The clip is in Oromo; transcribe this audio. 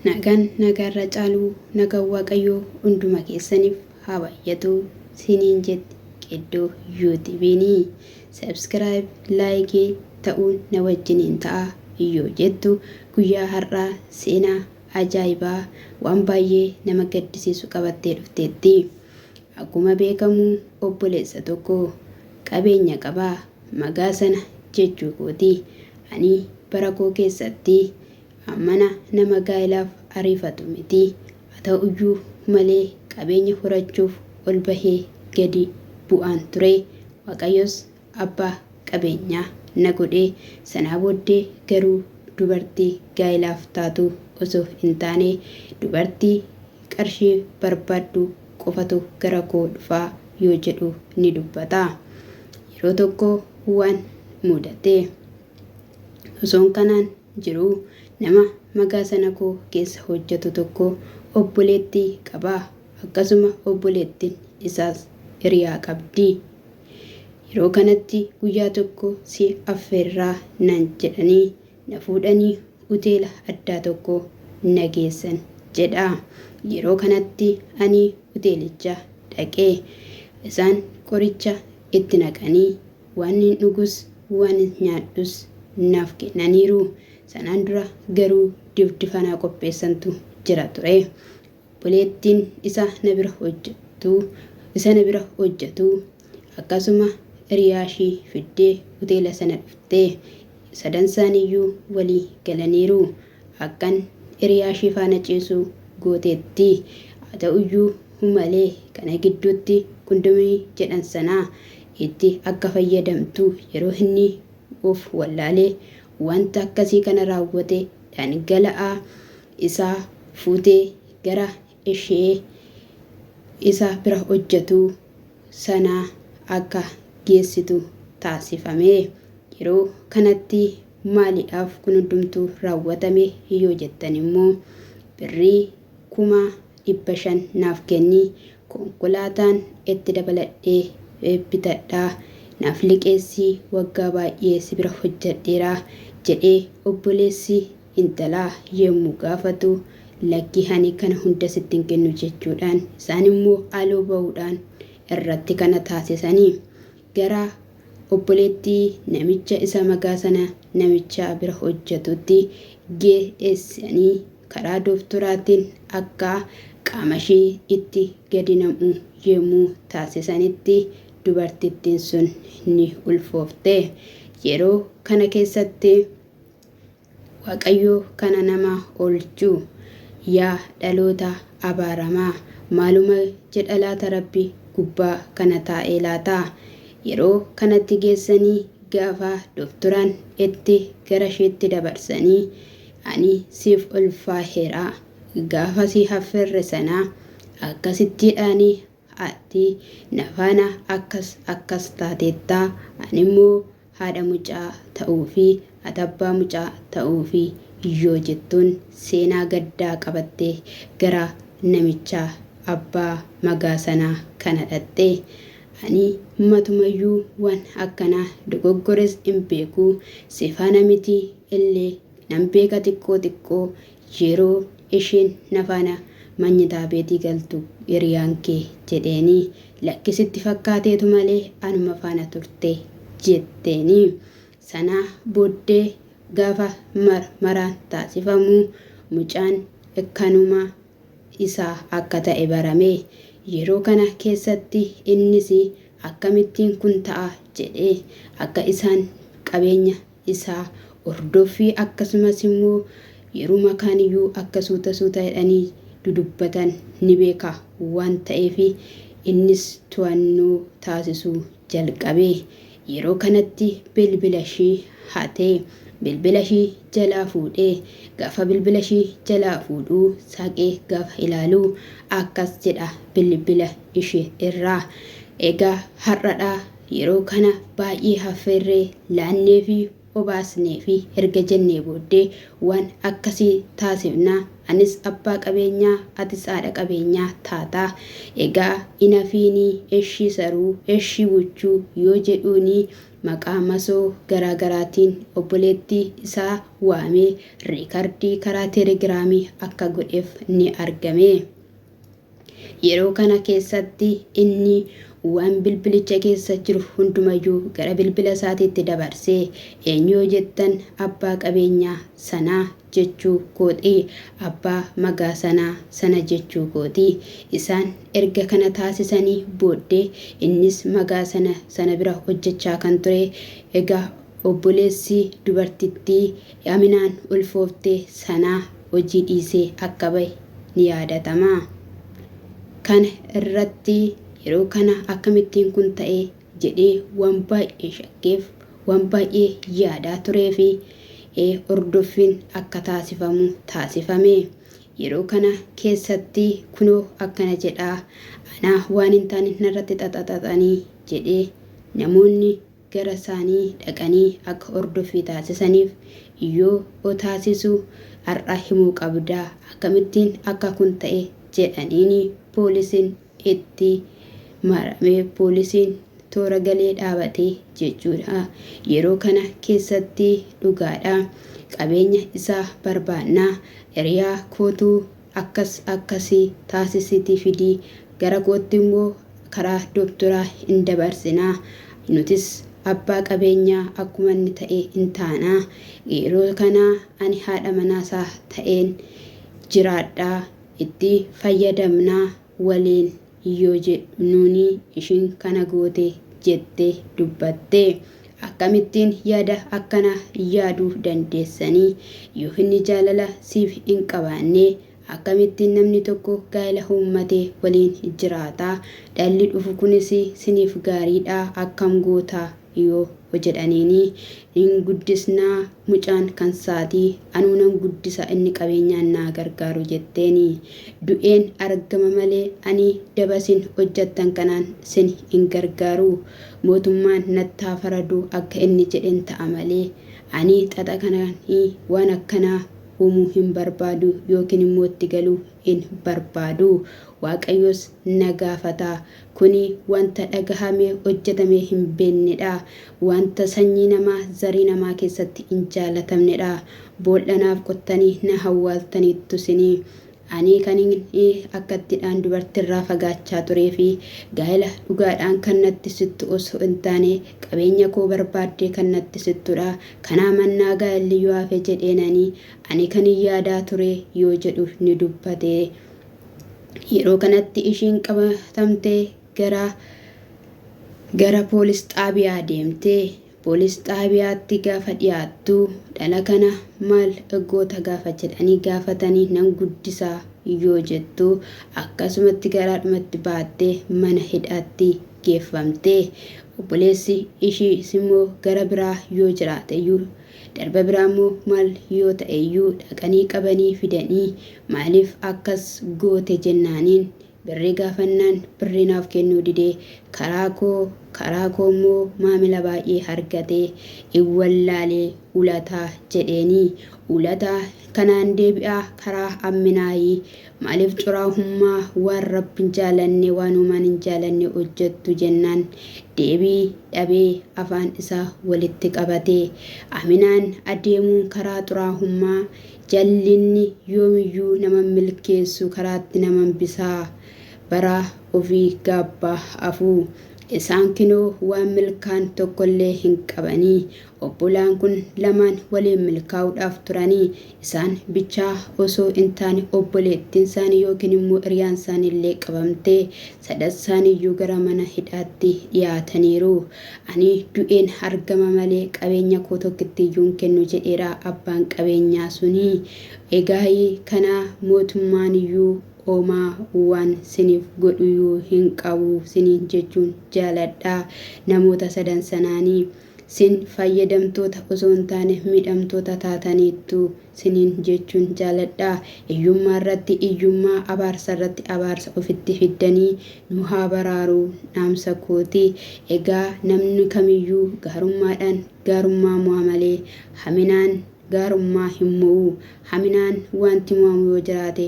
Nagaan nagaa irra caaluu nagaan waaqayyoo hunduma keessanif haa baayyatuu siniin jetti Qeddoo you tbn subscribe like ta'uun na wajjiniin ta'aa yoo jettu guyyaa har'aa seenaa ajaa'ibaa waan baay'ee nama gaddisiisu qabattee dhufteetti akkuma beekamu obboleessa tokko qabeenya qaba magaa sana jechuu kooti ani bara koo keessatti Hammana nama gaa'ilaaf ariifatu miti. Haa ta'uyyuu malee qabeenya horachuuf ol bahee gadi bu'aan ture. Waaqayyos abbaa qabeenyaa na godhe. Sanaa booddee garuu dubartii gaa'ilaaf taatu osoo hin taane dubartii qarshii barbaaddu qofatu gara koo dhufa yoo jedhu ni dubbata. Yeroo tokko waan mudate. Osoon kanaan jiru nama magaasana koo keessa hojjatu tokko obboleetti qaba akkasuma obboleettin isaas hiriyaa qabdi yeroo kanatti guyyaa tokko si affeerraa nan jedhanii na fuudhanii uteela addaa tokko na geessan jedha yeroo kanatti ani uteelicha dhaqee isaan qoricha itti naqanii Waanin dhugus waanin nyaadhus naaf kennaniiru. Sanaan dura garuu difdifa naa qopheessantu jira ture. Obboleettiin isa na bira hojjettu isa na bira hojjetu akkasuma hiriyaashii fiddee hoteela sana dhufte. Sadansaaniiyyuu walii galaniiru. Akkan hiriyaa ishii faana ciisu gooteetti. Haa ta'uyyuu malee kana gidduutti kundomii jedhan sana itti akka fayyadamtu yeroo inni of wallaale wanta akkasii kana raawwate dhangala'aa isaa fuutee gara ishee isa bira hojjetu sana akka geessitu taasifame. Yeroo kanatti maalidhaaf kun hundumtuu raawwatame yoo jettan immoo birrii kuma dhibba shan naaf kenni konkolaataan itti dabaladhee bitadhaa naaf liqeessi waggaa baay'ee si bira hojjedheera jedhee obboleessi Intalaa yommuu gaafatu, Lakkii ani kana hunda sitti hin kennu jechuudhaan isaan immoo haaloo ba'uudhaan irratti kana taasisani. Gara obboleettii namicha isa magaa sana namicha bira hojjetuutti geessani karaa dooftoraatiin akka qaama ishii itti gadi nam'u yommuu taasisanitti dubartittiin sun ni ulfoofte. Yeroo kana keessatti. Waaqayyoo kana nama oolchu. Yaa dhaloota abaaramaa maaluma jedha laata rabbi gubbaa kana taa'ee laata? Yeroo kanatti geessanii gaafa dofturan itti garasheetti dabarsanii ani siif ulfaaheera gaafa si haffeerre sana akkasitti dhaanii ati na faana akkas akkas taateetta animmoo haadha mucaa ta'uufi ati abbaa mucaa ta'uufi yoo jettuun seenaa gaddaa qabattee gara namichaa abbaa magaa sanaa kana dhaqxe. Ani matumayyuu waan akkanaa dogoggores in beeku, si faana miti illee Nan beeka xiqqoo xiqqoo yeroo isheen na faana manyitaa beetii galtu hiriyaan kee jedheeni. Lakki sitti fakkaateetu malee anuma faana turte jetteeni. Sana booddee gaafa marmaraan taasifamu mucaan kanuma isaa akka ta'e barame. Yeroo kana keessatti innis akkamittiin kun ta'a jedhee akka isaan qabeenya isaa ordoffii akkasumas immoo yeruma kaan iyyuu akka suuta suuta jedhanii dudubbatan ni beeka waan ta'eef innis to'annoo taasisuu jalqabe. Yeroo kanatti bilbila ishii hate. Bilbila ishii jalaa fuudhe. Gaafa bilbila ishii jalaa fuudhu saaqee gaafa ilaalu akkas jedha bilbila ishee irraa. Egaa har'adhaa Yeroo kana baay'ee haffeerree, laanneefi obaasneefi erga jennee booddee waan akkasii taasifna. Anis abbaa qabeenyaa, atis haadha qabeenyaa taata. Egaa hin hafiinii eshii saruu, eshii buchuu yoo jedhuunii maqaa masoo garaa garaatiin obboleetti isaa waamee riikardii karaa telegiraamii akka godheef ni argame. Yeroo kana keessatti inni waan bilbilicha keessa jiru hundumayyuu gara bilbila isaatiitti dabarsee, Eenyu yoo jettan abbaa qabeenyaa sanaa jechuu kooti, abbaa magaa sanaa sana jechuu kooti. Isaan erga kana taasisanii booddee innis magaa sana sana bira hojjechaa kan ture, Egaa obboleessi dubartittii Aminaan ulfoofte sanaa hojii dhiisee akka bahe ni yaadatama. Kana irratti yeroo kana akkamittiin kun ta'e jedhee waan baay'ee shakkeef, waan baay'ee yaadaa tureefi hordoffiin akka taasifamu taasifame. Yeroo kana keessatti kunoo akkana jedhaa anaa waan hin taane narratti xaxaxaxanii jedhee namoonni garasaanii dhaqanii akka hordoffii taasisaniif yoo o taasisu har'a himuu qabda akkamittiin akka kun ta'e jedhaniin poolisiin itti marame poolisiin toora galee dhaabate jechuudha yeroo kana keessatti dhugaadha qabeenya isaa barbaannaa hiriyaa kootu akkas akkasi taasisiti fidi gara kootti immoo karaa dooktoraa in dabarsina nutis abbaa qabeenyaa akkuma inni ta'e in taana yeroo kana ani haadha manaa isaa ta'een jiraadha itti fayyadamna waliin yoo jedhu nuuni ishiin kana goote jettee dubbatte. Akkamittiin yaada akkanaa yaaduu dandeessanii? Yoo inni jaalala siif hin qabaanne akkamittiin namni tokko gaa'ila uummate waliin jiraata? Dhalli dhufu kunis siniif gaariidhaa akkam goota? yoo hojedhaniini hin guddisnaa mucaan kan saati anuu nan guddisa inni qabeenyaan naa gargaaru jetteeni du'een argama malee ani daba sin hojjattan kanaan sin hin gargaaru mootummaan natti haa faradu akka inni jedhen ta'a malee ani xaxa kanaan waan akkanaa uumuu hin barbaadu yookiin immoo itti galuu hin barbaadu waaqayyoos na gaafata Kuni wanta dhagahamee hojjatamee hin beennedha. Wanta sanyii namaa, zarii namaa keessatti hin jaalatamnedha. Boolla naaf qottanii na hawwaaltaniittu sini. Ani kanin akkattidhaan dubartirraa fagaachaa turee fi gaa'ela dhugaadhaan kan natti sittu osoo hin taane qabeenya koo barbaaddee kan natti sittudha. Kanaa mannaa gaa'elli yoo hafe jedheenani ani kanin yaadaa ture yoo jedhu ni dubbate. Yeroo kanatti ishiin qabatamtee gara gara poolis xaabiyaa deemte. Poolis xaabiyaatti gaafa dhiyaattu dhala kana maal goota gaafa jedhanii gaafatanii nan guddisaa yoo jettu akkasumatti garaadhumatti baattee mana hidhaatti geeffamte. Obboleessi ishiis immoo gara biraa yoo jiraateyyuu darba biraa immoo maal yoo ta'eyyuu dhaqanii qabanii fidanii Maaliif akkas goote jennaaniin birrii gaafannaan birrii naaf kennuu didee karaa koo karaa koo immoo maamila baay'ee hargatee in wallaalee ulataa jedheenii ulataa kanaan deebi'aa karaa amminaayii maaliif curaahummaa waan rabbin jaalanne waan uumaan hin jaalanne hojjattu jennaan deebii dhabee afaan isaa walitti qabatee aminaan adeemuun karaa xuraahummaa Jallinni yoomiyyuu nama hin milkeessu karaatti nama hambisa. Bara ofii gaabba hafu. Isaan kinoo waan milkaan tokkollee hin qabani. Obbolaan kun lamaan waliin milkaa'uudhaaf turani. Isaan bichaa osoo hin taane obboleettiinsaanii yookiin immoo hiriyaansaaniillee qabamte. Sadassaaniyyuu gara mana hidhaatti dhiyaataniiru. Ani du'een argama malee qabeenya koo tokkittiyyuu hin kennu jedheera abbaan qabeenyaa suni. Egaai kana mootummaaniyyuu omaa waan siniif godhuyuu hin qabu siniin jechuun jaaladha namoota sadan sanaani. Sin fayyadamtoota osoo hin taane miidhamtoota taataniittu siniin jechuun jaaladha. Iyyummaarratti iyyummaa, abaarsarratti abaarsa ofitti fiddanii nu haa baraaruu dhaamsa kooti. Egaa namni kamiyyuu gaarummaadhaan gaarummaa mo'a malee haminaan gaarummaa hin mo'u. Haminaan waanti mo'amu yoo jiraate